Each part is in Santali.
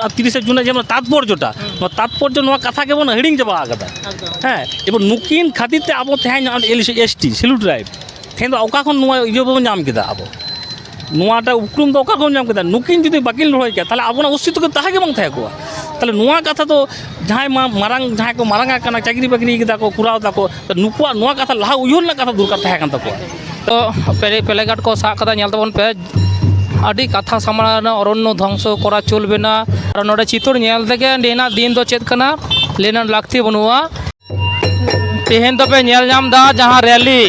ᱛᱤᱨᱤᱥᱮ ᱡᱩᱱ ᱡᱮᱢᱚᱱ ᱛᱟᱛᱯᱚᱨᱡᱚᱴᱟ ᱱᱚᱣᱟ ᱛᱟᱛᱯᱚᱨᱡᱚ ᱱᱚᱣᱟ ᱠᱟᱛᱷᱟ ᱜᱮᱵᱚᱱ ᱦᱤᱲᱤᱧ ᱪᱟᱵᱟ ᱟᱠᱟᱫᱟ ᱦᱮᱸ ᱮᱵᱚᱱ ᱱᱩᱠᱤᱱ ᱠᱷᱟᱹᱛᱤᱨ ᱛᱮ ᱟᱵᱚ ᱛᱮᱦᱮᱧ ᱮᱥ ᱴᱤ ᱥᱤᱞᱩ ᱴᱨᱟᱭᱤᱵᱽ ᱛᱮᱦᱮᱧ ᱫᱚ ᱚᱠᱟ ᱠᱷᱚᱱ ᱱᱚᱣᱟ ᱤᱭᱟᱹ ᱵᱚᱱ ᱧᱟᱢ ᱠᱮᱫᱟ ᱟᱵᱚ ᱱᱚᱣᱟᱴᱟᱜ ᱩᱯᱨᱩᱢ ᱫᱚ ᱚᱠᱟ ᱠᱷᱚᱱ ᱧᱟᱢ ᱠᱮᱫᱟ ᱱᱩᱠᱤᱱ ᱡᱩᱫᱤ ᱵᱟᱹᱠᱤᱱ ᱞᱟᱹᱲᱦᱟᱹᱭ ᱠᱮᱭᱟ ᱛᱟᱦᱚᱞᱮ ᱟᱵᱚᱱᱟᱜ ᱚᱥᱛᱤᱛᱛᱚ ᱫᱚ ᱛᱟᱦᱮᱸ ᱜᱮ ᱵᱟᱝ ᱛᱟᱦᱮᱸ ᱠᱚᱜᱼᱟ ᱛᱟᱦᱚᱞᱮ ᱱᱚᱣᱟ ᱠᱟᱛᱷᱟ ᱫᱚ ᱡᱟᱦᱟᱸᱭ ᱢᱟᱨᱟᱝ ᱡᱟᱦᱟᱸᱭ ᱠᱚ ᱢᱟᱨᱟᱝ ᱟᱠᱟᱱᱟ ᱪᱟᱹᱠᱨᱤ ᱵᱟᱹᱠᱨᱤ ᱠᱟᱫᱟ ᱠᱚ ᱠᱚᱨᱟᱣ ᱫᱟᱠᱚ ᱱᱩᱠᱩᱣᱟᱜ ᱱᱚᱣᱟ ᱠᱟᱛᱷᱟ ᱞᱟᱦᱟ ᱩᱭᱦᱟᱹᱨ ᱨᱮᱱᱟᱜ ᱠᱟᱛᱷᱟ ᱫᱚᱨᱠᱟᱨ ᱛᱟᱦᱮᱸ ᱠᱟᱱ ᱛᱟᱠᱚᱣᱟ ᱛᱚ ᱯᱮᱞᱮ ᱜᱟᱨᱰ ᱠᱚ ᱥᱟᱵ ᱠᱟᱫᱟ ᱧᱮᱞ ᱛᱟᱵᱚᱱ ᱯᱮ ᱟᱹᱰᱤ ᱠᱟᱛᱷᱟ ᱥᱟᱢᱟᱝ ᱨᱮ ᱚᱨᱚᱱᱱᱚ ᱫᱷᱚᱝᱥᱚ ᱠᱚᱨᱟ ᱪᱚᱞᱵᱮ ᱱᱟ ᱟᱨ ᱱᱚᱰᱮ ᱪᱤᱛᱟᱹᱨ ᱧᱮᱞ ᱛᱮᱜᱮ ᱱᱤᱭᱟᱹᱱᱟᱜ ᱫᱤᱱ ᱫᱚ ᱪᱮᱫ ᱠᱟᱱᱟ ᱞᱟᱹᱭ ᱨᱮᱱᱟᱜ ᱞᱟᱹᱠᱛᱤ ᱵᱟᱹᱱᱩᱜᱼᱟ ᱛᱮᱦᱮᱧ ᱫᱚᱯᱮ ᱧᱮᱞ ᱧᱟᱢ ᱮᱫᱟ ᱡᱟᱦᱟᱸ ᱨᱮᱞᱤ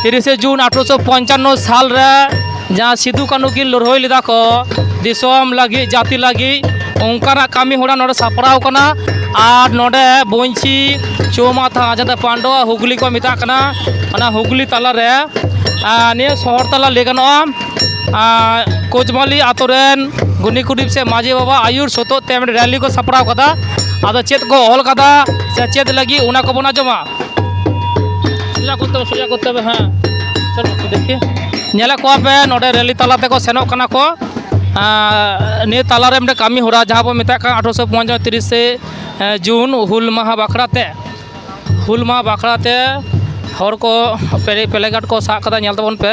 ᱛᱤᱨᱤᱥᱮ ᱡᱩᱱ ᱟᱴᱷᱨᱚᱥᱚ ᱯᱚᱧᱪᱟᱱᱱᱚ ᱥᱟᱞ ᱨᱮ ᱡᱟᱦᱟᱸ ᱥᱤᱫᱩ ᱠᱟᱹᱱᱩ ᱠᱤᱱ ᱞᱟᱹᱲᱦᱟᱹᱭ ᱞᱮᱫᱟ ᱠᱚ ᱫᱤᱥᱚᱢ ᱞᱟᱹᱜᱤᱫ ᱡᱟᱹᱛᱤ ᱞᱟᱹᱜᱤᱫ ᱚᱱᱠᱟᱱᱟᱜ ᱠᱟᱹᱢᱤ ᱦᱚᱨᱟ ᱱᱚᱰᱮ ᱥᱟᱯᱲᱟᱣ ᱠᱟᱱᱟ ᱟᱨ ᱱᱚᱰᱮ ᱵᱚᱧᱪᱤᱛ ᱪᱳᱣᱢᱟᱛᱷᱟ ᱡᱟᱛᱮ ᱯᱟᱱᱰᱚᱣᱟ ᱦᱩᱜᱽᱞᱤ ᱠᱚ ᱢᱮᱛᱟᱜ ᱠᱟᱱᱟ ᱚᱱᱟ ᱦᱩᱜᱽᱞᱤ ᱛᱟᱞᱟᱨᱮ ᱱᱤᱭᱟᱹ ᱥᱚᱦᱚᱨ ᱛᱟᱞᱟ ᱞᱟᱹᱭ ᱜᱟᱱᱚᱜᱼᱟ ᱠᱳᱪᱵᱟᱞᱤ ᱟᱹᱛᱩ ᱨᱮᱱ ᱜᱩᱱᱤ ᱜᱩᱨᱤᱵᱽ ᱥᱮ ᱢᱟᱹᱡᱷᱤ ᱵᱟᱵᱟ ᱟᱹᱭᱩᱨ ᱥᱚᱛᱮᱡ ᱛᱮ ᱢᱤᱫᱴᱮᱱ ᱨᱮᱞᱤ ᱠᱚ ᱥᱟᱯᱲᱟᱣ ᱠᱟᱫᱟ ᱟᱫᱚ ᱪᱮᱫ ᱠᱚ ᱚᱞ ᱠᱟᱫᱟ ᱥᱮ ᱪᱮᱫ ᱞᱟᱹᱜᱤᱫ ᱚᱱᱟ ᱠᱚᱵᱚᱱ ᱟᱸᱡᱚᱢᱟ ᱥᱳᱡᱟ ᱠᱚᱨᱛᱮ ᱦᱚᱵᱮ ᱥᱳᱡᱟ ᱠᱚᱨᱛᱮ ᱦᱚᱵᱮ ᱦᱮᱸ ᱫᱮᱠᱷᱤ ᱧᱮᱞᱮᱫ ᱠᱚᱣᱟ ᱯᱮ ᱱᱚᱰᱮ ᱨᱮᱞᱤ ᱛᱟᱞᱟ ᱛᱮᱠᱚ ᱥᱮᱱᱚᱜ ᱠᱟᱱᱟ ᱠᱚ ᱱᱤᱭᱟᱹ ᱛᱟᱞᱟᱨᱮ ᱢᱤᱫᱴᱮᱱ ᱠᱟᱹᱢᱤᱦᱚᱨᱟ ᱡᱟᱦᱟᱸ ᱵᱚᱱ ᱢᱮᱛᱟᱜ ᱠᱟᱱ ᱟᱴᱷᱨᱚᱥᱚ ᱯᱚᱧᱪᱟᱥ ᱛᱤᱨᱤᱥᱮ ᱡᱩᱱ ᱦᱩᱞ ᱢᱟᱦᱟ ᱵᱟᱠᱷᱨᱟ ᱛᱮ ᱦᱩᱞ ᱢᱟᱦᱟ ᱵᱟᱠᱷᱨᱟ ᱛᱮ ᱦᱚᱲ ᱠᱚ ᱯᱞᱮ ᱠᱟᱨᱰ ᱠᱚ ᱥᱟᱵ ᱠᱟᱫᱟ ᱧᱮᱞ ᱛᱟᱵᱚᱱ ᱯᱮ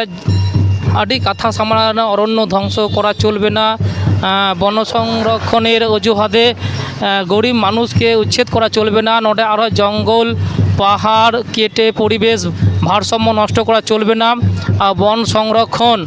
ᱟᱹᱰᱤ ᱠᱟᱛᱷᱟ ᱥᱟᱢᱟᱝ ᱨᱮ ᱚᱨᱚᱱᱱᱚ ᱫᱷᱚᱝᱥᱚ ᱠᱚᱨᱟ ᱪᱚᱞᱵᱮ ᱱᱟ ᱵᱚᱱᱚ ᱥᱚᱝᱨᱚᱠᱠᱷᱚᱱᱮᱨ ᱚᱡᱩᱦᱟᱛᱮ ᱜᱚᱨᱤᱵᱽ ᱢᱟᱱᱩᱥ ᱠᱮ ᱩᱪᱪᱷᱮᱫ ᱠᱚᱨᱟ ᱪᱚᱞᱵᱮ ᱱᱟ ᱱᱚᱰᱮ ᱟᱨᱚ ᱡᱚᱝᱜᱚᱞ ᱯᱟᱦᱟᱲ ᱠᱮᱴᱮ ᱯᱚᱨᱤᱵᱮᱥ ᱵᱷᱟᱨᱥᱟᱢᱢᱚ ᱱᱚᱥᱴᱚ ᱠᱚᱨᱟ ᱪᱚᱞᱵᱮ ᱱᱟ ᱟᱨ ᱵᱚᱱ ᱥᱚᱝᱨᱚᱠᱠᱷᱚᱱ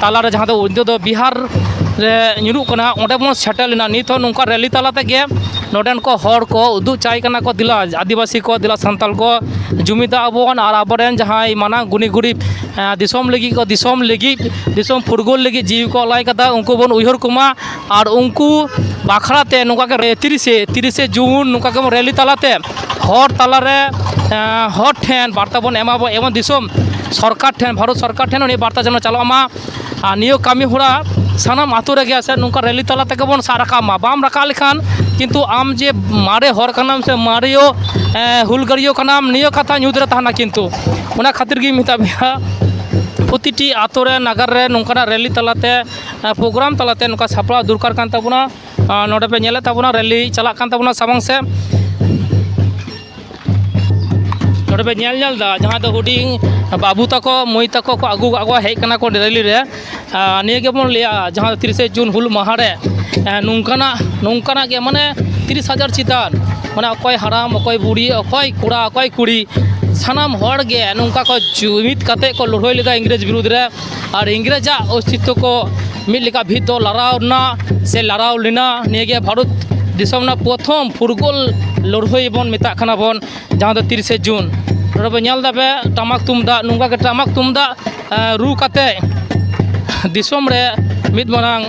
ᱛᱟᱞᱟᱨᱮ ᱡᱟᱦᱟᱸ ᱫᱚ ᱱᱤᱛᱚᱜ ᱫᱚ ᱵᱤᱦᱟᱨ ᱨᱮ ᱧᱩᱨᱩᱜ ᱠᱟᱱᱟ ᱚᱸᱰᱮ ᱵᱚᱱ ᱥᱮᱴᱮᱨ ᱞᱮᱱᱟ ᱱᱤᱛ ᱦᱚᱸ ᱱᱚᱝᱠᱟ ᱨᱮᱞᱤ ᱛᱟᱞᱟ ᱛᱮᱜᱮ ᱱᱚᱰᱮᱱ ᱠᱚ ᱦᱚᱲ ᱠᱚ ᱩᱫᱩᱜ ᱪᱟᱭ ᱠᱟᱱᱟ ᱠᱚ ᱫᱮᱞᱟ ᱟᱹᱫᱤᱵᱟᱹᱥᱤ ᱠᱚ ᱫᱮᱞᱟ ᱥᱟᱱᱛᱟᱲ ᱠᱚ ᱡᱩᱢᱤᱫᱚᱜ ᱟᱵᱚᱱ ᱟᱨ ᱟᱵᱚ ᱨᱮᱱ ᱡᱟᱦᱟᱸᱭ ᱢᱟᱱᱟᱝ ᱜᱩᱱᱤ ᱜᱩᱨᱤᱵᱽ ᱫᱤᱥᱚᱢ ᱞᱟᱹᱜᱤᱫ ᱠᱚ ᱫᱤᱥᱚᱢ ᱞᱟᱹᱜᱤᱫ ᱫᱤᱥᱚᱢ ᱯᱷᱩᱨᱜᱟᱹᱞ ᱞᱟᱹᱜᱤᱫ ᱡᱤᱣᱤ ᱠᱚ ᱟᱞᱟᱭ ᱠᱟᱫᱟ ᱩᱱᱠᱩ ᱵᱚᱱ ᱩᱭᱦᱟᱹᱨ ᱠᱚᱢᱟ ᱟᱨ ᱩᱱᱠᱩ ᱵᱟᱠᱷᱨᱟᱛᱮ ᱱᱚᱝᱠᱟᱜᱮ ᱛᱤᱨᱤᱥᱮ ᱛᱤᱨᱤᱥᱮ ᱡᱩᱱ ᱱᱚᱝᱠᱟ ᱜᱮᱵᱚᱱ ᱨᱮᱞᱤ ᱛᱟᱞᱟᱛᱮ ᱦᱚᱲ ᱛᱟᱞᱟᱨᱮ ᱦᱚᱲ ᱴᱷᱮᱱ ᱵᱟᱨᱛᱟ ᱵᱚᱱ ᱮᱢᱟ ᱵᱚᱱ ᱮᱵᱚᱝ ᱫᱤᱥᱚᱢ ᱥᱚᱨᱠᱟᱨ ᱴᱷᱮᱱ ᱵᱷᱟᱨᱚᱛ ᱥᱚᱨᱠᱟᱨ ᱴᱷᱮᱱ ᱦᱚᱸ ᱱᱤᱭᱟᱹ ᱵᱟᱨᱛᱟ ᱡᱮᱱᱚ ᱪᱟᱞᱟᱜ ᱢᱟ ᱟᱨ ᱱᱤᱭᱟᱹ ᱠᱟᱹᱢᱤ ᱦᱚᱨᱟ ᱥᱟᱱᱟᱢ ᱟᱹᱛᱩ ᱨᱮᱜᱮ ᱥᱮ ᱱᱚᱝᱠᱟ ᱨᱮᱹᱞᱤ ᱛᱟᱞᱟ ᱛᱮᱜᱮ ᱵᱚᱱ ᱥᱟᱵ ᱨᱟᱠᱟᱵ ᱢᱟ ᱵᱟᱢ ᱨᱟᱠᱟᱵ ᱞᱮᱠᱷᱟᱱ ᱠᱤᱱᱛᱩ ᱟᱢ ᱡᱮ ᱢᱟᱨᱮ ᱦᱚᱲ ᱠᱟᱱᱟᱢ ᱥᱮ ᱢᱟᱨᱮᱭᱟᱹᱜ ᱦᱩᱞᱜᱟᱹᱨᱭᱟᱹ ᱠᱟᱱᱟᱢ ᱱᱤᱭᱟᱹ ᱠᱟᱛᱷᱟ ᱧᱩᱛ ᱨᱮ ᱛᱟᱦᱮᱱᱟ ᱠᱤᱱᱛᱩ ᱚᱱᱟ ᱠᱷᱟᱹᱛᱤᱨ ᱜᱤᱧ ᱢᱮᱛᱟᱫ ᱢᱮᱭᱟ ᱯᱨᱚᱛᱤᱴᱤ ᱟᱹᱛᱩ ᱨᱮ ᱱᱟᱜᱟᱨ ᱨᱮ ᱱᱚᱝᱠᱟᱱᱟᱜ ᱨᱮᱹᱞᱤ ᱛᱟᱞᱟᱛᱮ ᱯᱨᱳᱜᱨᱟᱢ ᱛᱟᱞᱟᱛᱮ ᱱᱚᱝᱠᱟ ᱥᱟᱯᱲᱟᱣ ᱫᱚᱨᱠᱟᱨ ᱠᱟᱱ ᱛᱟᱵᱳᱱᱟ ᱱᱚᱰᱮ ᱯᱮ ᱧᱮᱞᱮᱫ ᱛᱟᱵᱚᱱᱟ ᱨᱮᱞᱤ ᱪᱟᱞᱟᱜ ᱠᱟᱱ ᱛᱟᱵᱚᱱᱟ ᱥᱟᱢᱟᱝ ᱥᱮᱫ ᱱᱚᱰᱮ ᱯᱮ ᱧᱮᱞ ᱧᱮᱞ ᱮᱫᱟ ᱡᱟᱦᱟᱸ ᱫᱚ ᱦᱩᱰᱤᱧ ᱵᱟᱹᱵᱩ ᱛᱟᱠᱚ ᱢᱟᱹᱭ ᱛᱟᱠᱚ ᱠᱚ ᱟᱹᱜᱩ ᱠᱟᱜ ᱠᱚᱣᱟ ᱦᱮᱡ ᱠᱟᱱᱟ ᱠᱚ ᱨᱮᱞᱤ ᱨᱮ ᱱᱤᱭᱟᱹ ᱜᱮᱵᱚᱱ ᱞᱟᱹᱭᱟ ᱡᱟᱦᱟᱸ ᱛᱤᱨᱤᱥᱮ ᱡᱩᱱ ᱦᱩᱞ ᱢᱟᱦᱟ ᱨᱮ ᱱᱚᱝᱠᱟᱱᱟᱜ ᱱᱚᱝᱠᱟᱱᱟᱜ ᱜᱮ ᱢᱟᱱᱮ ᱛᱤᱨᱤᱥ ᱦᱟᱡᱟᱨ ᱪᱮᱛᱟᱱ ᱢᱟᱱᱮ ᱚᱠᱚᱭ ᱦᱟᱲᱟᱢ ᱚᱠᱚᱭ ᱵᱩᱲᱦᱤ ᱚᱠᱚᱭ ᱠᱚᱲᱟ ᱚᱠᱚᱭ ᱠᱩᱲᱤ ᱥᱟᱱᱟᱢ ᱦᱚᱲᱜᱮ ᱱᱚᱝᱠᱟ ᱠᱚ ᱡᱩᱢᱤᱫ ᱠᱟᱛᱮᱫ ᱠᱚ ᱞᱟᱹᱲᱦᱟᱹᱭ ᱞᱮᱫᱟ ᱤᱝᱨᱮᱡᱽ ᱵᱤᱨᱩᱫᱽ ᱨᱮ ᱟᱨ ᱤᱝᱨᱮᱡᱽ ᱟᱜ ᱚᱥᱛᱤᱛᱛᱚ ᱠᱚ ᱢᱤᱫ ᱞᱮᱠᱟ ᱵᱷᱤᱛ ᱫᱚ ᱞᱟᱲᱟᱣ ᱮᱱᱟ ᱥᱮ ᱞᱟᱲᱟᱣ ᱞᱮᱱᱟ ᱱᱤᱭᱟᱹ ᱜᱮ ᱵᱷᱟᱨᱚᱛ ᱫᱤᱥᱚᱢ ᱨᱮᱱᱟᱜ ᱯᱨᱚᱛᱷᱚᱢ ᱯᱷᱩᱨᱜᱟᱹᱞ ᱞᱟᱹᱲᱦᱟᱹᱭ ᱵᱚᱱ ᱢᱮᱛᱟᱜ ᱠᱟᱱᱟ ᱵᱚᱱ ᱡᱟᱦᱟᱸ ᱫᱚ ᱛᱤᱨᱤᱥᱮ ᱡᱩᱱ ᱱᱚᱰᱮ ᱵᱚᱱ ᱧᱮᱞ ᱮᱫᱟ ᱴᱟᱢᱟᱠ ᱛᱩᱢᱫᱟᱜ ᱱᱚᱝᱠᱟ ᱠᱟᱛᱮᱫ ᱴᱟᱢᱟᱠ ᱛᱩᱢᱫᱟᱜ ᱨᱩ ᱠᱟᱛᱮᱫ ᱫᱤᱥᱚᱢ ᱨᱮ ᱢᱤᱫ ᱢᱟᱨᱟᱝ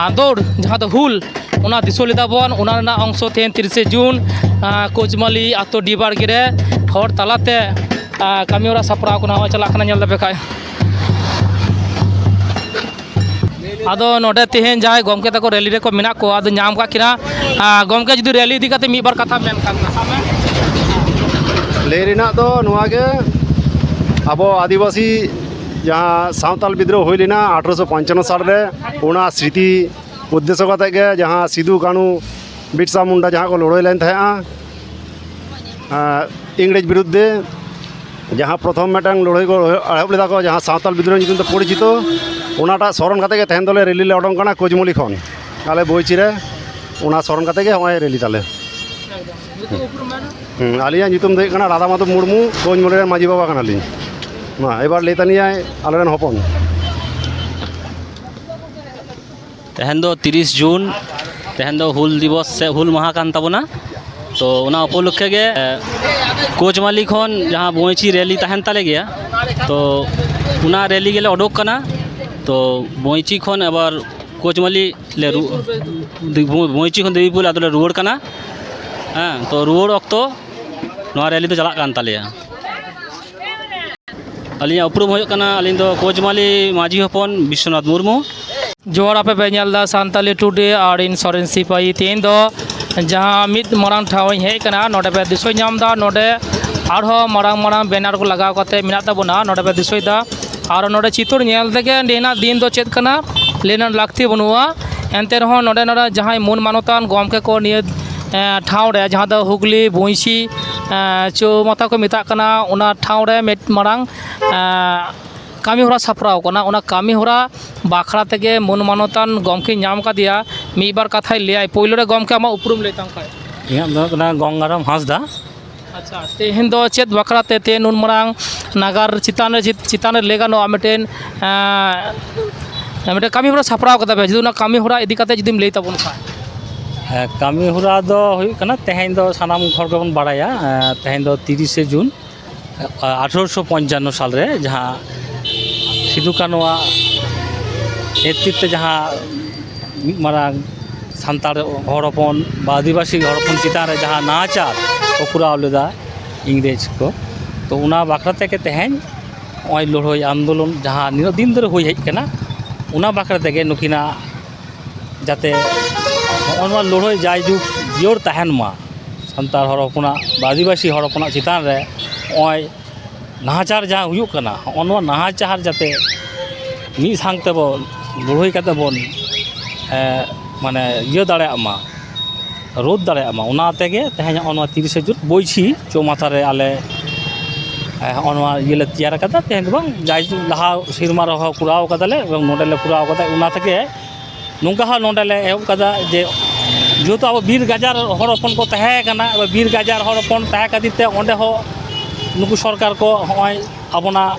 ᱟᱸᱫᱳᱲ ᱡᱟᱦᱟᱸ ᱫᱚ ᱦᱩᱞ ᱚᱱᱟ ᱫᱤᱥᱟᱹ ᱞᱮᱫᱟ ᱵᱚᱱ ᱚᱱᱟ ᱨᱮᱱᱟᱜ ᱚᱝᱥᱚ ᱛᱮ ᱛᱤᱨᱤᱥᱮ ᱡᱩᱱ ᱠᱳᱪᱢᱟᱹᱞᱤ ᱟᱛᱳ ᱰᱤ ᱵᱟᱲᱜᱮ ᱨᱮ ᱦᱚᱲ ᱛᱟᱞᱟᱛᱮ ᱟᱨ ᱠᱟᱹᱢᱤ ᱦᱚᱨᱟ ᱥᱟᱯᱲᱟᱣ ᱠᱚ ᱱᱟᱦᱟᱜ ᱪᱟᱞᱟᱜ ᱠᱟᱱᱟ ᱧᱮᱞ ᱫᱟᱯᱮ ᱠᱷᱟᱡ ᱟᱫᱚ ᱱᱚᱰᱮ ᱛᱮᱦᱮᱧ ᱡᱟᱦᱟᱸᱭ ᱜᱚᱢᱠᱮ ᱛᱟᱠᱚ ᱨᱮᱞᱤ ᱨᱮᱠᱚ ᱢᱮᱱᱟᱜ ᱠᱚᱣᱟ ᱟᱫᱚ ᱧᱟᱢ ᱠᱟᱜ ᱠᱤᱱᱟ ᱟᱨ ᱜᱚᱢᱠᱮ ᱡᱩᱫᱤ ᱨᱮᱞᱤ ᱤᱫᱤ ᱠᱟᱛᱮ ᱢᱤᱫ ᱵᱟᱨ ᱠᱟᱛᱷᱟ ᱢᱮᱱ ᱠᱷᱟᱱ ᱥᱟᱵ ᱢᱮ ᱞᱟᱹᱭ ᱨᱮᱱᱟᱜ ᱫᱚ ᱱᱚᱣᱟ ᱜᱮ ᱟᱵᱚ ᱟᱹᱫᱤᱵᱟᱹᱥᱤ ᱡᱟᱦᱟᱸ ᱥᱟᱱᱛᱟᱞ ᱵᱤᱫᱽᱨᱳᱦ ᱦᱩᱭ ᱞᱮᱱᱟ ᱟᱴᱷᱨᱚᱥᱚ ᱯᱚᱧᱪᱟᱱᱱᱚ ᱥᱟᱞ ᱨᱮ ᱚᱱᱟ ᱥᱨᱤᱛᱤ ᱩᱫᱽᱫᱮᱥᱥᱚ ᱠᱟᱛᱮᱫ ᱜᱮ ᱡᱟᱦᱟᱸ ᱥᱤᱫᱩ ᱠᱟᱹᱱᱦᱩ ᱵᱤᱨᱥᱟ ᱢᱩᱱᱰᱟ ᱡᱟᱦᱟᱸ ᱠᱚ ᱞᱟᱹᱲᱦᱟᱹᱭ ᱞᱮᱱ ᱛᱟᱦᱮᱸᱫᱼᱟ ᱤᱝᱨᱮᱡᱽ ᱵᱤᱨᱩᱫᱽ ᱨᱮ ᱡᱟᱦᱟᱸ ᱯᱨᱚᱛᱷᱚᱢ ᱢᱤᱫᱴᱟᱝ ᱞᱟᱹᱲᱦᱟᱹᱭ ᱠᱚ ᱮᱦᱚᱵ ᱞᱮᱫᱟ ᱠᱚ ᱡᱟᱦᱟᱸ ᱥᱟᱶᱛᱟᱞ ᱵᱤᱫᱽᱨᱳᱦᱤ ᱧᱩᱛᱩᱢ ᱛᱮ ᱯᱚᱨᱤᱪᱤᱛᱚ ᱚᱱᱟᱴᱟᱜ ᱥᱚᱨᱚᱱ ᱠᱟᱛᱮᱫ ᱜᱮ ᱛᱮᱦᱮᱧ ᱫᱚᱞᱮ ᱨᱮᱞᱤ ᱞᱮ ᱚᱰᱚᱝ ᱠᱟᱱᱟ ᱠᱩᱡᱽᱢᱩᱞᱤ ᱠᱷᱚᱱ ᱟᱞᱮ ᱵᱚᱭᱪᱤ ᱨᱮ ᱚᱱᱟ ᱥᱚᱨᱚᱱ ᱠᱟᱛᱮᱫ ᱜᱮ ᱱᱚᱜᱼᱚᱭ ᱨᱮᱞᱤ ᱛᱟᱞᱮ ᱟᱹᱞᱤᱧᱟᱜ ᱧᱩᱛᱩᱢ ᱫᱚ ᱦᱩᱭᱩᱜ ᱠᱟᱱᱟ ᱨᱟᱫᱷᱟ ᱢᱟᱫᱷᱚᱵ ᱢᱩᱨᱢᱩ ᱠᱩᱡᱽᱢᱩᱞᱤ ᱨᱮᱱ ᱢᱟᱹᱡᱷᱤ ᱵᱟᱵᱟ ᱠᱟᱱᱟᱞᱤᱧ ᱢᱟ ᱮᱵᱟᱨ ᱞᱟᱹᱭ ᱛᱟᱞᱤᱧᱟᱭ ᱟᱞᱮᱨᱮᱱ ᱦᱚᱯᱚᱱ ᱛᱮᱦᱮᱧ ᱫᱚ ᱛᱤᱨᱤᱥ ᱡᱩᱱ ᱛᱮᱦᱮᱧ ᱫᱚ ᱦᱩᱞ ᱫᱤᱵᱚᱥ ᱥᱮ ᱦᱩᱞ ᱢᱟᱦᱟ ᱠᱟᱱ ᱛᱟᱵᱚᱱᱟ ᱛᱚ ᱚᱱᱟ ᱩᱯᱚᱞᱚᱠᱠᱷᱮ ᱜᱮ ᱠᱳᱪᱢᱟᱞᱤ ᱠᱷᱚᱱ ᱡᱟᱦᱟᱸ ᱵᱚᱸᱭᱪᱤ ᱨᱮᱞᱤ ᱛᱟᱦᱮᱱ ᱛᱟᱞᱮ ᱜᱮᱭᱟ ᱛᱚ ᱚᱱᱟ ᱨᱮᱞᱤ ᱜᱮᱞᱮ ᱚᱰᱚᱠ ᱠᱟᱱᱟ ᱛᱚ ᱵᱚᱸᱭᱪᱤ ᱠᱷᱚᱱ ᱟᱵᱟᱨ ᱠᱳᱪᱢᱟᱞᱤ ᱞᱮ ᱵᱚᱸᱭᱪᱤ ᱠᱷᱚᱱ ᱫᱮᱵᱤᱯᱩᱨ ᱟᱫᱚᱞᱮ ᱨᱩᱣᱟᱹᱲ ᱠᱟᱱᱟ ᱦᱮᱸ ᱛᱚ ᱨᱩᱣᱟᱹᱲ ᱚᱠᱛᱚ ᱱᱚᱣᱟ ᱨᱮᱞᱤ ᱫᱚ ᱪᱟᱞᱟᱜ ᱠᱟᱱ ᱛᱟᱞᱮᱭᱟ ᱟᱹᱞᱤᱧᱟᱜ ᱩᱯᱨᱩᱢ ᱦᱩᱭᱩᱜ ᱠᱟᱱᱟ ᱟᱹᱞᱤᱧ ᱫᱚ ᱠᱳᱪᱢᱟᱞᱤ ᱢᱟᱹᱡᱷᱤ ᱦᱚᱯᱚᱱ ᱵᱤᱥᱥᱚᱱᱟᱛᱷ ᱢᱩᱨᱢᱩ ᱡᱚᱦᱟᱨ ᱟᱯᱮ ᱯᱮ ᱧᱮᱞ ᱮᱫᱟ ᱥᱟᱱᱛᱟᱞᱤ ᱴᱩᱰᱮ ᱟᱨ ᱤᱧ ᱥᱚᱨᱮᱱ ᱥᱤᱯᱟᱹᱦᱤ ᱛᱮᱦᱮᱧ ᱫᱚ ᱡᱟᱦᱟᱸ ᱢᱤᱫ ᱢᱟᱨᱟᱝ ᱴᱷᱟᱶ ᱤᱧ ᱦᱮᱡ ᱟᱠᱟᱱᱟ ᱱᱚᱰᱮ ᱯᱮ ᱫᱤᱥᱟᱹ ᱧᱟᱢ ᱮᱫᱟ ᱱᱚᱰᱮ ᱟᱨᱦᱚᱸ ᱢᱟᱨᱟᱝ ᱢᱟᱨᱟᱝ ᱵᱮᱱᱟᱨ ᱠᱚ ᱞᱟᱜᱟᱣ ᱠᱟᱛᱮ ᱢᱮᱱᱟᱜ ᱛᱟᱵᱚᱱᱟ ᱱᱚᱰᱮ ᱯᱮ ᱫᱤᱥᱟᱹᱭᱮᱫᱟ ᱟᱨ ᱱᱚᱰᱮ ᱪᱤᱛᱟᱹᱨ ᱧᱮᱞ ᱛᱮᱜᱮ ᱱᱤᱭᱟᱹᱱᱟᱜ ᱫᱤᱱ ᱫᱚ ᱪᱮᱫ ᱠᱟᱱᱟ ᱞᱟᱹᱭ ᱨᱮᱱᱟᱜ ᱞᱟᱹᱠᱛᱤ ᱵᱟᱹᱱᱩᱜᱼᱟ ᱮᱱᱛᱮ ᱨᱮᱦᱚᱸ ᱱᱚᱰᱮ ᱱᱚᱰᱮ ᱡᱟᱦᱟᱸᱭ ᱢᱟᱹᱱ ᱢᱟᱱᱚᱛᱟᱱ ᱜᱚᱢᱠᱮ ᱠᱚ ᱱᱤᱭᱟᱹ ᱴᱷᱟᱶ ᱨᱮ ᱡᱟᱦᱟᱸ ᱫᱚ ᱦᱩᱜᱽᱞᱤ ᱵᱚᱸᱭᱥᱤ ᱪᱳᱣᱢᱟᱛᱟ ᱠᱚ ᱢᱮᱛᱟᱜ ᱠᱟᱱᱟ ᱚᱱᱟ ᱴᱷᱟᱶ ᱨᱮ ᱢᱤᱫ ᱢᱟᱨᱟᱝ ᱠᱟᱹᱢᱤᱦᱚᱨᱟ ᱥᱟᱯᱲᱟᱣ ᱠᱟᱱᱟ ᱚᱱᱟ ᱠᱟᱹᱢᱤᱦᱚᱨᱟ ᱵᱟᱠᱷᱨᱟ ᱛᱮᱜᱮ ᱢᱟᱹᱱ ᱢᱟᱱᱚᱛᱟᱱ ᱜᱚᱢᱠᱮᱧ ᱧᱟᱢ ᱠᱟᱫᱮᱭᱟ ᱢᱤᱫ ᱵᱟᱨ ᱠᱟᱛᱷᱟᱭ ᱞᱟᱹᱭᱟ ᱯᱳᱭᱞᱳ ᱨᱮ ᱜᱚᱢᱠᱮ ᱟᱢᱟᱜ ᱩᱯᱨᱩᱢ ᱞᱟᱹᱭ ᱛᱟᱢ ᱠᱷᱟᱱ ᱤᱧᱟᱹᱜ ᱫᱚ ᱦᱩᱭᱩᱜ ᱠᱟᱱᱟ ᱜᱚᱝᱜᱟᱨᱟᱢ ᱦᱟᱸᱥᱫᱟ ᱟᱪᱪᱷᱟ ᱛᱮᱦᱮᱧ ᱫᱚ ᱪᱮᱫ ᱵᱟᱠᱷᱨᱟᱛᱮ ᱛᱮᱦᱮᱧ ᱱᱩᱱ ᱢᱟᱨᱟᱝ ᱱᱟᱜᱟᱨ ᱪᱮᱛᱟᱱ ᱨᱮ ᱪᱮᱛᱟᱱ ᱨᱮ ᱞᱟᱹᱭ ᱜᱟᱱᱚᱜᱼᱟ ᱢᱤᱫᱴᱮᱱ ᱢᱤᱫᱴᱮᱱ ᱠᱟᱹᱢᱤ ᱦᱚᱨᱟ ᱥᱟᱯᱲᱟᱣ ᱠᱟᱫᱟ ᱯᱮ ᱡᱩᱫᱤ ᱚᱱᱟ ᱠᱟᱹᱢᱤ ᱦᱚᱨᱟ ᱤᱫᱤ ᱠᱟᱛᱮᱫ ᱡᱩᱫᱤᱢ ᱞᱟᱹᱭ ᱛᱟᱵᱚᱱ ᱠᱷᱟᱱ ᱦᱮᱸ ᱠᱟᱹᱢᱤ ᱦᱚᱨᱟ ᱫᱚ ᱦᱩᱭᱩᱜ ᱠᱟᱱᱟ ᱛᱮᱦᱮᱧ ᱫᱚ ᱥᱟᱱᱟᱢ ᱦᱚᱲ ᱜᱮᱵᱚᱱ ᱵᱟᱲᱟᱭᱟ ᱛᱮᱦᱮᱧ ᱫᱚ ᱛᱤᱨᱤᱥᱮ ᱡᱩᱱ ᱟᱴᱷᱨᱚᱥᱚ ᱯᱚᱧᱪᱟᱱᱱᱚ ᱥᱟᱞᱨᱮ ᱡᱟᱦᱟᱸ ᱥᱤᱫᱩ ᱠᱟᱹᱱᱩ ᱟᱜ ᱱᱮᱛᱨᱤᱛᱛᱚ ᱡᱟᱦᱟᱸ ᱢᱤᱫ ᱢᱟᱨᱟᱝ ᱥᱟᱱᱛᱟᱲ ᱦᱚᱲ ᱦᱚᱯᱚᱱ ᱵᱟ ᱟᱹᱫᱤᱵᱟᱹᱥᱤ ᱦᱚᱲ ᱦᱚᱯᱚᱱ ᱪᱮᱛᱟᱱ ᱨᱮ ᱡᱟᱦᱟᱸ ᱱᱟᱦᱟᱪᱟᱨ ᱠᱚ ᱠᱚᱨᱟᱣ ᱞᱮᱫᱟ ᱤᱝᱨᱮᱡᱽ ᱠᱚ ᱛᱳ ᱚᱱᱟ ᱵᱟᱠᱷᱨᱟ ᱛᱮᱜᱮ ᱛᱮᱦᱮᱧ ᱱᱚᱜᱼᱚᱸᱭ ᱞᱟᱹᱲᱦᱟᱹᱭ ᱟᱱᱫᱳᱞᱚᱱ ᱡᱟᱦᱟᱸ ᱱᱤᱱᱟᱹᱜ ᱫᱤᱱ ᱫᱷᱚᱨᱮ ᱦᱩᱭ ᱦᱮᱡ ᱠᱟᱱᱟ ᱚᱱᱟ ᱵᱟᱠᱷᱨᱟ ᱛᱮᱜᱮ ᱱᱩᱠᱤᱱᱟᱜ ᱡᱟᱛᱮ ᱱᱚᱜᱼᱚᱸᱭ ᱱᱚᱣᱟ ᱞᱟᱹᱲᱦᱟᱹᱭ ᱡᱟᱭ ᱡᱩᱜᱽ ᱡᱤᱭᱟᱹᱲ ᱛᱟᱦᱮᱱ ᱢᱟ ᱥᱟᱱᱛᱟᱲ ᱦᱚᱲ ᱦᱚᱯᱚᱱᱟᱜ ᱵᱟ ᱟᱹᱫᱤᱵᱟᱹᱥᱤ ᱦᱚᱲ ᱦᱚᱯᱚᱱᱟᱜ ᱪᱮᱛᱟᱱ ᱨᱮ ᱱᱚᱜᱼᱚᱸᱭ ᱱᱟᱦᱟᱪᱟᱨ ᱡᱟᱦᱟᱸ ᱦᱩᱭᱩᱜ ᱠᱟᱱᱟ ᱱᱚᱜᱼᱚ ᱱᱚᱣᱟ ᱱᱟᱦᱟᱪᱟᱨ ᱡᱟᱛᱮ ᱢᱤᱫ ᱥᱟᱝ ᱛᱮᱵᱚᱱ ᱞᱟᱹᱲᱦᱟᱹᱭ ᱠᱟᱛᱮ ᱵᱚᱱ ᱢᱟᱱᱮ ᱤᱭᱟᱹ ᱫᱟᱲᱮᱭᱟᱜ ᱢᱟ ᱨᱳᱫᱷ ᱫᱟᱲᱮᱭᱟᱜ ᱢᱟ ᱚᱱᱟ ᱛᱮᱜᱮ ᱛᱮᱦᱮᱧ ᱦᱚᱸᱜᱼᱚ ᱱᱚᱣᱟ ᱛᱤᱨᱤᱥᱮ ᱡᱩᱱ ᱵᱟᱹᱭᱥᱤ ᱪᱳᱣᱢᱟᱛᱷᱟ ᱨᱮ ᱟᱞᱮ ᱦᱚᱸᱜᱼᱚ ᱱᱚᱣᱟ ᱤᱭᱟᱹ ᱞᱮ ᱛᱮᱭᱟᱨ ᱠᱟᱫᱟ ᱛᱮᱦᱮᱧ ᱫᱚ ᱵᱟᱝ ᱡᱟᱭ ᱡᱩᱜᱽ ᱞᱟᱦᱟ ᱥᱮᱨᱢᱟ ᱨᱮᱦᱚᱸ ᱠᱚᱨᱟᱣ ᱠᱟᱫᱟᱞᱮ ᱮᱵᱚᱝ ᱱᱚᱸᱰᱮ ᱞᱮ ᱠᱚᱨᱟᱣ ᱠᱟᱫᱟ ᱚᱱᱟ ᱛᱮᱜᱮ ᱱᱚᱝᱠᱟ ᱦᱚᱸ ᱱᱚᱸᱰᱮ ᱞᱮ ᱮᱦᱚᱵ ᱠᱟᱫᱟ ᱡᱮ ᱡᱮᱦᱮᱛᱩ ᱟᱵᱚ ᱵᱤᱨ ᱜᱟᱡᱟᱲ ᱦᱚᱲ ᱦᱚᱯᱚᱱ ᱠᱚ ᱛᱟᱦᱮᱸ ᱠᱟᱱᱟ ᱟᱫᱚ ᱵᱤᱨ ᱜᱟᱡᱟᱲ ᱦᱚᱲ ᱦᱚᱯᱚᱱ ᱛᱟᱦᱮᱸ ᱠᱷᱟᱹᱛᱤᱨ ᱛᱮ ᱚᱸᱰᱮ ᱦᱚᱸ ᱱᱩᱠᱩ ᱥᱚᱨᱠᱟᱨ ᱠᱚ ᱦᱚᱸᱜᱼᱚᱭ ᱟᱵᱚᱱᱟᱜ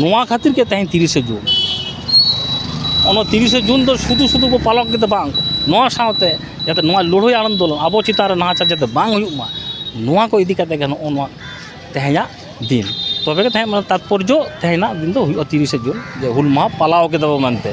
ᱱᱚᱣᱟ ᱠᱷᱟᱹᱛᱤᱨ ᱜᱮ ᱛᱮᱦᱮᱧ ᱛᱤᱨᱤᱥᱮ ᱡᱩᱱ ᱚᱱᱟ ᱛᱤᱨᱤᱥᱮ ᱡᱩᱱ ᱫᱚ ᱥᱩᱫᱷᱩ ᱥᱩᱫᱷᱩ ᱠᱚ ᱯᱟᱞᱚᱱ ᱠᱮᱫᱟ ᱵᱟᱝ ᱱᱚᱣᱟ ᱥᱟᱶᱛᱮ ᱡᱟᱛᱮ ᱱᱚᱣᱟ ᱞᱟᱹᱲᱦᱟᱹᱭ ᱟᱱᱫᱳᱞᱚᱱ ᱟᱵᱚ ᱪᱮᱛᱟᱱ ᱨᱮ ᱱᱟᱦᱟᱪᱟᱨ ᱡᱟᱛᱮ ᱵᱟᱝ ᱦᱩᱭᱩᱜ ᱢᱟ ᱱᱚᱣᱟ ᱠᱚ ᱤᱫᱤ ᱠᱟᱛᱮᱫ ᱜᱮ ᱱᱚᱜᱼᱚ ᱱᱚᱣᱟ ᱛᱮᱦᱮᱧᱟᱜ ᱫᱤᱱ ᱛᱚᱵᱮ ᱜᱮ ᱛᱮᱦᱮᱧᱟᱜ ᱛᱟᱛᱯᱚᱨᱡᱚ ᱛᱮᱦᱮᱧᱟᱜ ᱫᱤᱱ ᱫᱚ ᱦᱩᱭᱩᱜᱼᱟ ᱛᱤᱨᱤᱥᱮ ᱡᱩᱱ ᱡᱮ ᱦᱩᱞ ᱢᱟᱦᱟ ᱯᱟᱞᱟᱣ ᱠᱮᱫᱟ ᱵᱚᱱ ᱢᱮᱱᱛᱮ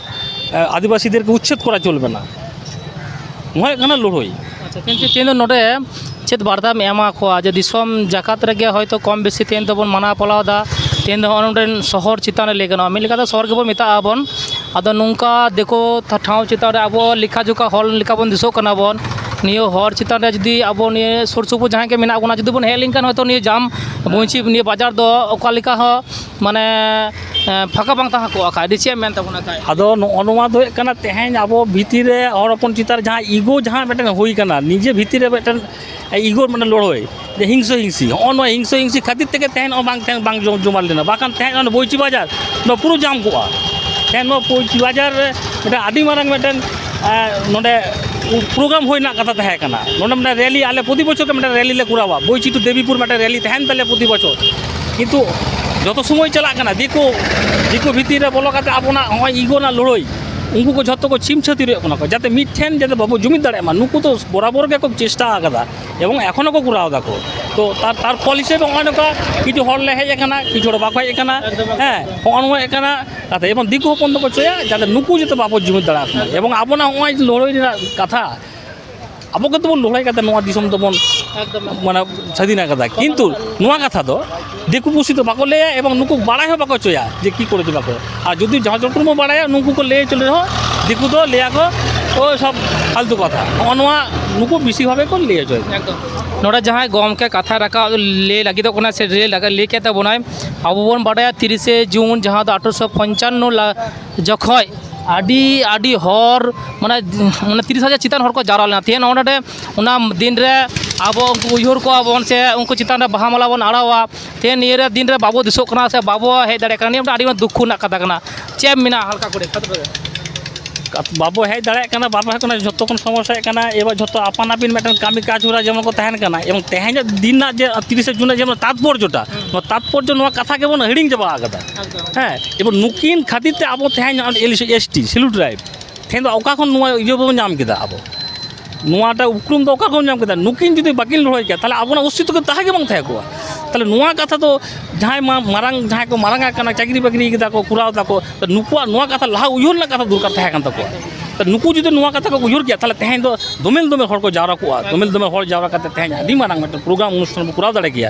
ᱟᱹᱫᱤᱵᱟᱹᱥᱤᱫᱮᱨᱠᱮ ᱩᱪᱪᱷᱮᱫ ᱠᱚᱨᱟ ᱪᱚᱞᱵᱮ ᱱᱟ ᱱᱚᱣᱟ ᱦᱩᱭᱩᱜ ᱠᱟᱱᱟ ᱞᱟᱹᱲᱦᱟᱹᱭ ᱠᱤᱱᱛᱩ ᱛᱮᱦᱮᱧ ᱫᱚ ᱱᱚᱰᱮ ᱪᱮᱫ ᱵᱟᱨᱛᱟᱢ ᱮᱢᱟ ᱠᱚᱣᱟ ᱡᱮ ᱫᱤᱥᱚᱢ ᱡᱟᱠᱟᱛ ᱨᱮᱜᱮ ᱦᱚᱭᱛᱳ ᱠᱚᱢ ᱵᱮᱥᱤ ᱛᱮᱦᱮᱧ ᱫᱚᱵᱚᱱ ᱢᱟᱱᱟᱣ ᱯᱟᱞᱟᱣᱫᱟ ᱛᱮᱦᱮᱧ ᱫᱚ ᱱᱚᱜᱼᱚ ᱱᱚᱰᱮᱱ ᱥᱚᱦᱚᱨ ᱪᱮᱛᱟᱱ ᱨᱮ ᱞᱟᱹᱭ ᱜᱟᱱᱚᱜᱼᱟ ᱢᱤᱫ ᱞᱮᱠᱟᱛᱮ ᱥᱚᱦᱚᱨ ᱜᱮᱵᱚᱱ ᱢᱮᱛᱟᱜᱼᱟ ᱵᱚᱱ ᱟᱫᱚ ᱱᱚᱝᱠᱟ ᱫᱤᱠᱩ ᱴᱷᱟᱶ ᱪᱮᱛᱟᱱ ᱨᱮ ᱟᱵᱚ ᱞᱮᱠᱷᱟ ᱡᱚᱠᱷᱟ ᱦᱚᱲ ᱞᱮᱠᱟ ᱵᱚᱱ ᱫᱤᱥᱟᱹᱜ ᱠᱟᱱᱟ ᱵᱚᱱ ᱱᱤᱭᱟᱹ ᱦᱚᱨ ᱪᱮᱛᱟᱱ ᱨᱮ ᱡᱩᱫᱤ ᱟᱵᱚ ᱱᱤᱭᱟᱹ ᱥᱩᱨ ᱥᱩᱯᱩᱨ ᱡᱟᱦᱟᱸᱭ ᱜᱮ ᱢᱮᱱᱟᱜ ᱵᱚᱱᱟ ᱡᱩᱫᱤ ᱵᱚᱱ ᱦᱮᱡ ᱞᱮᱱᱠᱷᱟᱱ ᱦᱚᱭᱛᱳ ᱱᱤᱭᱟᱹ ᱡᱟᱢ ᱵᱚᱧᱪᱤᱛ ᱱᱤᱭᱟᱹ ᱵᱟᱡᱟᱨ ᱫᱚ ᱚᱠᱟ ᱞᱮᱠᱟ ᱦᱚᱸ ᱢᱟᱱᱮ ᱯᱷᱟᱸᱠᱟ ᱵᱟᱝ ᱛᱟᱦᱮᱸ ᱠᱚᱜᱼᱟ ᱠᱷᱟᱡ ᱫᱚ ᱪᱮᱫ ᱮᱢ ᱢᱮᱱ ᱛᱟᱵᱚᱱᱟ ᱠᱷᱟᱡ ᱟᱫᱚ ᱱᱚᱜᱼᱚ ᱱᱚᱣᱟ ᱫᱚ ᱦᱩᱭᱩᱜ ᱠᱟᱱᱟ ᱛᱮᱦᱮᱧ ᱟᱵᱚ ᱵᱷᱤᱛᱤᱨ ᱨᱮ ᱦᱚᱲ ᱦᱚᱯᱚᱱ ᱪᱮᱛᱟᱱ ᱨᱮ ᱡᱟᱦᱟᱸ ᱤᱜᱳ ᱡᱟᱦᱟᱸ ᱢᱤᱫᱴᱮᱱ ᱦᱩᱭ ᱠᱟᱱᱟ ᱱᱤᱡᱮ ᱵᱷᱤᱛᱤᱨ ᱨᱮ ᱢᱤᱫᱴᱮᱱ ᱤᱜᱳ ᱢᱟᱱᱮ ᱞᱟᱹᱲᱦᱟᱹᱭ ᱡᱮ ᱦᱤᱝᱥᱟᱹ ᱦᱤᱝᱥᱤ ᱦᱚᱜᱼᱚ ᱱᱚᱣᱟ ᱦᱤᱝᱥᱟᱹ ᱦᱤᱝᱥᱤ ᱠᱷᱟᱹᱛᱤᱨ ᱛᱮᱜᱮ ᱛᱮᱦᱮᱧ ᱱᱚᱜᱼᱚᱭ ᱵᱟᱝ ᱛᱮᱦᱮᱧ ᱵᱟᱝ ᱡᱚᱢ ᱡᱚᱢᱟᱴ ᱞᱮᱱᱟ ᱵᱟᱠᱷᱟᱱ ᱛᱮᱦᱮᱧ ᱚᱱᱟ ᱵᱳᱭᱪᱤ ᱵᱟᱡᱟᱨ ᱱᱚᱣᱟ ᱯᱩᱨᱟᱹ ᱡᱟᱢ ᱠᱚᱜᱼᱟ ᱛᱮᱦᱮᱧ ᱱᱚᱣᱟ ᱵᱳᱭᱪᱤ ᱵᱟᱡᱟᱨ ᱨᱮ ᱢᱤᱫᱴᱮᱱ ᱟᱹᱰᱤ ᱢᱟᱨᱟᱝ ᱢᱤᱫᱴᱮᱱ ᱱᱚᱰᱮ ᱯᱨᱳᱜᱨᱟᱢ ᱦᱩᱭ ᱨᱮᱱᱟᱜ ᱠᱟᱛᱷᱟ ᱛᱟᱦᱮᱸ ᱠᱟᱱᱟ ᱱᱚᱰᱮ ᱢᱤᱫᱴᱮᱱ ᱨᱮᱞᱤ ᱟᱞᱮ ᱯᱨᱚᱛᱤ ᱵᱚᱪᱷᱚᱨ ᱜᱮ ᱢᱤᱫᱴᱮᱱ ᱨᱮᱞᱤ ᱞᱮ ᱠᱚᱨᱟᱣᱟ ᱵᱳᱭᱪᱤᱛᱩ ᱫᱮᱵᱤᱯᱩᱨ ᱢᱤᱫᱴᱮᱱ ᱨᱮᱞᱤ ᱛᱟᱦᱮᱱ ᱛᱟᱞᱮᱭᱟ ᱯᱨᱚᱛᱤ ᱵᱚᱪᱷᱚᱨ ᱠᱤᱱᱛᱩ ᱡᱚᱛᱚ ᱥᱚᱢᱚᱭ ᱪᱟᱞᱟᱜ ᱠᱟᱱᱟ ᱫᱤᱠᱩ ᱫᱤᱠᱩ ᱵᱷᱤᱛᱤᱨ ᱨᱮ ᱵᱚᱞᱚ ᱠᱟᱛᱮᱫ ᱟᱵᱚᱱᱟᱜ ᱱᱚᱜᱼᱚᱭ ᱤᱜᱳ ᱨᱮᱱᱟᱜ ᱞᱟᱹᱲᱦᱟᱹᱭ ᱩᱱᱠᱩ ᱠᱚ ᱡᱚᱛᱚ ᱠᱚ ᱪᱷᱤᱢ ᱪᱷᱟᱹᱛᱟᱹᱨ ᱦᱩᱭᱩᱜ ᱠᱟᱱᱟ ᱠᱚ ᱡᱟᱛᱮ ᱢᱤᱫ ᱴᱷᱮᱱ ᱡᱟᱛᱮ ᱵᱟᱵᱚ ᱡᱩᱢᱤᱫ ᱫᱟᱲᱮᱭᱟᱜ ᱢᱟ ᱱᱩᱠᱩ ᱫᱚ ᱵᱚᱨᱟᱵᱚᱨ ᱜᱮᱠᱚ ᱪᱮᱥᱴᱟ ᱟᱠᱟᱫᱟ ᱮᱵᱚᱝ ᱮᱠᱷᱚᱱ ᱦᱚᱸᱠᱚ ᱠᱚᱨᱟᱣ ᱫᱟᱠᱚ ᱛᱚ ᱛᱟᱨ ᱛᱟᱨ ᱯᱷᱚᱞ ᱦᱤᱥᱟᱹᱵ ᱛᱮ ᱱᱚᱜᱼᱚᱭ ᱱᱚᱝᱠᱟ ᱠᱤᱪᱷᱩ ᱦᱚᱲ ᱞᱮ ᱦᱮᱡ ᱟᱠᱟᱱᱟ ᱠᱤᱪᱷᱩ ᱦᱚᱲ ᱵᱟᱠᱚ ᱦᱮᱡ ᱟᱠᱟᱱᱟ ᱦᱮᱸ ᱱᱚᱜᱼᱚ ᱱᱚᱣᱟ ᱦᱩᱭᱩᱜ ᱠᱟᱱᱟ ᱠᱟᱛᱷᱟ ᱮᱵᱚᱝ ᱫᱤᱠᱩ ᱦᱚᱯᱚᱱ ᱫᱚᱠᱚ ᱪᱟᱹᱭᱟ ᱡᱟᱛᱮ ᱱᱩᱠᱩ ᱡᱟᱛᱮ ᱵᱟᱵᱚ ᱡᱩᱢᱤᱫ ᱫᱟᱲᱮᱭᱟᱠᱚ ᱢᱟ ᱮᱵᱚᱝ ᱟᱵᱚᱱᱟᱜ ᱱᱚᱜᱼᱚᱭ ᱞᱟᱹᱲᱦᱟᱹᱭ ᱨᱮᱱᱟᱜ ᱠᱟᱛᱷᱟ ᱟᱵᱚ ᱜᱮᱛᱚ ᱵᱚᱱ ᱞᱟᱹᱲᱦᱟᱹᱭ ᱠᱟᱛᱮᱫ ᱱᱚᱣᱟ ᱫᱤᱥᱚᱢ ᱫᱚᱵᱚᱱ ᱢᱟᱱᱮ ᱥᱟᱹᱫᱷᱤᱱ ᱠᱟᱫᱟ ᱠᱤᱱᱛᱩ ᱱᱚᱣᱟ ᱠᱟᱛᱷᱟ ᱫᱚ ᱫᱤᱠᱩ ᱯᱩᱥᱤ ᱫᱚ ᱵᱟᱠᱚ ᱞᱟᱹᱭᱟ ᱮᱵᱚᱝ ᱱᱩᱠᱩ ᱵᱟᱲᱟᱭ ᱦᱚᱸ ᱵᱟᱠᱚ ᱦᱚᱪᱚᱭᱟ ᱡᱮ ᱠᱤ ᱠᱚᱨᱮ ᱪᱚ ᱵᱟᱠᱚ ᱟᱨ ᱡᱩᱫᱤ ᱡᱟᱦᱟᱸ ᱡᱚᱛᱚ ᱦᱚᱲ ᱵᱚᱱ ᱵᱟᱲᱟᱭᱟ ᱱᱩᱠᱩ ᱠᱚ ᱞᱟᱹᱭ ᱦᱚᱪᱚ ᱨᱮᱦᱚᱸ ᱫᱤᱠᱩ ᱫᱚ ᱞᱟᱹᱭᱟ ᱠᱚ ᱳᱭ ᱥᱚᱵ ᱯᱷᱟᱞᱛᱩ ᱠᱟᱛᱷᱟ ᱱᱚᱜᱼᱚ ᱱᱚᱣᱟ ᱱᱩᱠᱩ ᱵᱮᱥᱤᱨ ᱵᱷᱟᱜᱽ ᱜᱮᱠᱚ ᱞᱟᱹᱭ ᱦᱚᱪᱚᱭᱟ ᱮᱠᱫᱚᱢ ᱱᱚᱰᱮ ᱡᱟᱦᱟᱸᱭ ᱜᱚᱢᱠᱮ ᱠᱟᱛᱷᱟ ᱨᱟᱠᱟᱵ ᱞᱟᱹᱭ ᱞᱟᱹᱜᱤᱫᱚᱜ ᱠᱟᱱᱟᱭ ᱥᱮ ᱞᱟᱹᱭ ᱠᱮᱫ ᱛᱟᱵᱚᱱᱟᱭ ᱟᱵᱚ ᱵᱚᱱ ᱵᱟᱰᱟᱭᱟ ᱛᱤᱨᱤᱥᱮ ᱡᱩᱱ ᱡᱟᱦᱟᱸ ᱫᱚ ᱟᱴᱷᱨᱚᱥᱚ ᱯᱚᱧᱪᱟᱱᱱᱚ ᱡᱚᱠᱷᱚᱡ ᱟᱹᱰᱤ ᱟᱹᱰᱤ ᱦᱚᱲ ᱢᱟᱱᱮ ᱢᱟᱱᱮ ᱛᱤᱨᱤᱥ ᱦᱟᱡᱟᱨ ᱪᱮᱛᱟᱱ ᱦᱚᱲᱠᱚ ᱡᱟᱣᱨᱟ ᱞᱮᱱᱟ ᱛᱮᱦᱤᱧ ᱱᱚᱜᱼᱚ ᱱᱚᱰᱮ ᱚᱱᱟ ᱫᱤᱱ ᱨᱮ ᱟᱵᱚ ᱩᱱᱠᱩ ᱩᱭᱦᱟᱹᱨ ᱠᱚᱣᱟ ᱵᱚᱱ ᱥᱮ ᱩᱱᱠᱩ ᱪᱮᱛᱟᱱ ᱨᱮ ᱵᱟᱦᱟ ᱢᱟᱞᱟ ᱵᱚᱱ ᱟᱨᱟᱣᱟ ᱛᱮᱦᱤᱧ ᱱᱤᱭᱟᱹ ᱫᱤᱱ ᱨᱮ ᱵᱟᱵᱚ ᱫᱤᱥᱟᱹᱜ ᱠᱟᱱᱟ ᱥᱮ ᱵᱟᱵᱚ ᱦᱮᱡ ᱫᱟᱲᱮᱭᱟᱜ ᱠᱟᱱᱟ ᱱᱤᱭᱟᱹ ᱢᱤᱫᱴᱟᱝ ᱟᱹᱰᱤ ᱢᱟᱨᱟᱝ ᱫᱩᱠᱠᱷᱚ ᱨᱮᱱᱟᱜ ᱠᱟᱛᱷᱟ ᱠᱟᱱᱟ ᱪᱮᱫ ᱮᱢ ᱢᱮᱱᱟ ᱦᱟᱞᱠᱟ ᱠᱚᱨᱮ ᱵᱟᱵᱚ ᱦᱮᱡ ᱫᱟᱲᱮᱭᱟᱜ ᱠᱟᱱᱟ ᱵᱟᱵᱚ ᱦᱮᱡ ᱫᱟᱲᱮᱭᱟᱜ ᱠᱟᱱᱟ ᱡᱚᱛᱚ ᱠᱷᱚᱱ ᱥᱚᱢᱚᱥᱥᱟ ᱦᱩᱭᱩᱜ ᱠᱟᱱᱟ ᱮᱵᱟᱨ ᱡᱚᱛᱚ ᱟᱯᱟᱱ ᱟᱹᱯᱤᱱ ᱢᱤᱫᱴᱟᱝ ᱠᱟᱹᱢᱤ ᱠᱟᱡᱽ ᱦᱚᱨᱟ ᱡᱮᱢᱚᱱ ᱠᱚ ᱛᱟᱦᱮᱱ ᱠᱟᱱᱟ ᱮᱵᱚᱝ ᱛᱮᱦᱮᱧᱟᱜ ᱫᱤᱱ ᱨᱮᱱᱟᱜ ᱡᱮ ᱛᱤᱨᱤᱥᱟ ᱡᱩᱱ ᱨᱮᱱᱟᱜ ᱡᱮᱢᱚᱱ ᱛᱟᱛᱯᱚᱨᱡᱚ ᱴᱟᱜ ᱱᱚᱣᱟ ᱛᱟᱛᱯᱚᱨᱡᱚ ᱱᱚᱣᱟ ᱠᱟᱛᱷᱟ ᱜᱮᱵᱚᱱ ᱦᱤᱲᱤᱧ ᱪᱟᱵᱟ ᱟᱠᱟᱫᱟ ᱦᱮᱸ ᱮᱵᱟᱨ ᱱᱩᱠᱤᱱ ᱠᱷᱟᱹᱛᱤᱨ ᱛᱮ ᱟᱵᱚ ᱛᱮᱦᱮᱧ ᱱᱚᱜᱼᱚᱭ ᱮᱞ ᱮᱥ ᱴᱤ ᱥᱤᱞᱩ ᱴᱨᱟᱭᱤᱵᱽ ᱛᱮᱦᱮᱧ ᱫᱚ ᱚᱠᱟ ᱠᱷᱚᱱ ᱱᱚᱣᱟ ᱤᱭᱟᱹ ᱵᱚᱱ ᱧᱟᱢ ᱠᱮᱫᱟ ᱟᱵᱚ ᱱᱚᱣᱟᱴᱟᱜ ᱩᱯᱨᱩᱢ ᱫᱚ ᱚᱠᱟ ᱠᱷᱚᱱ ᱧᱟᱢ ᱠᱮᱫᱟ ᱱᱩᱠᱤᱱ ᱡᱩᱫᱤ ᱵᱟᱹᱠᱤᱱ ᱞᱟᱹᱲᱦᱟᱹᱭ ᱠᱮᱭᱟ ᱛᱟᱦᱚᱞᱮ ᱟᱵᱚᱱᱟᱜ ᱚᱥᱛᱤᱛᱛᱚ ᱫᱚ ᱛᱟᱦᱮᱸ ᱜᱮ ᱵᱟᱝ ᱛᱟᱦᱮᱸ ᱠᱚᱜᱼᱟ ᱛᱟᱦᱚᱞᱮ ᱱᱚᱣᱟ ᱠᱟᱛᱷᱟ ᱫᱚ ᱡᱟᱦᱟᱸᱭ ᱢᱟ ᱢᱟᱨᱟᱝ ᱡᱟᱦᱟᱸᱭ ᱠᱚ ᱢᱟᱨᱟᱝ ᱟᱠᱟᱱᱟ ᱪᱟᱹᱠᱨᱤ ᱵᱟᱹᱠᱨᱤ ᱠᱟᱫᱟ ᱠᱚ ᱠᱚᱨᱟᱣ ᱫᱟᱠᱚ ᱱᱩᱠᱩᱣᱟᱜ ᱱᱚᱣᱟ ᱠᱟᱛᱷᱟ ᱞᱟᱦᱟ ᱩᱭᱦᱟᱹᱨ ᱨᱮᱱᱟᱜ ᱠᱟᱛᱷᱟ ᱫᱚᱨᱠᱟᱨ ᱛᱟᱦᱮᱸ ᱠᱟᱱ ᱛᱟᱠᱚᱣᱟ ᱱᱩᱠᱩ ᱡᱩᱫᱤ ᱱᱚᱣᱟ ᱠᱟᱛᱷᱟ ᱠᱚ ᱩᱭᱦᱟᱹᱨ ᱠᱮᱭᱟ ᱛᱟᱦᱚᱞᱮ ᱛᱮᱦᱮᱧ ᱫᱚ ᱫᱚᱢᱮᱞ ᱫᱚᱢᱮᱞ ᱦᱚᱲ ᱠᱚ ᱡᱟᱣᱨᱟ ᱠᱚᱜᱼᱟ ᱫᱚᱢᱮᱞ ᱫᱚᱢᱮᱞ ᱦᱚᱲ ᱡᱟᱣᱨᱟ ᱠᱟᱛᱮᱫ ᱛᱮᱦᱮᱧ ᱟᱹᱰᱤ ᱢᱟᱨᱟᱝ ᱢᱤᱫᱴᱟᱝ ᱯᱨᱳᱜᱨᱟᱢ ᱚᱱᱩᱥᱴᱷᱟᱱ ᱵᱚᱱ ᱠᱚᱨᱟᱣ ᱫᱟᱲᱮ ᱠᱮᱭᱟ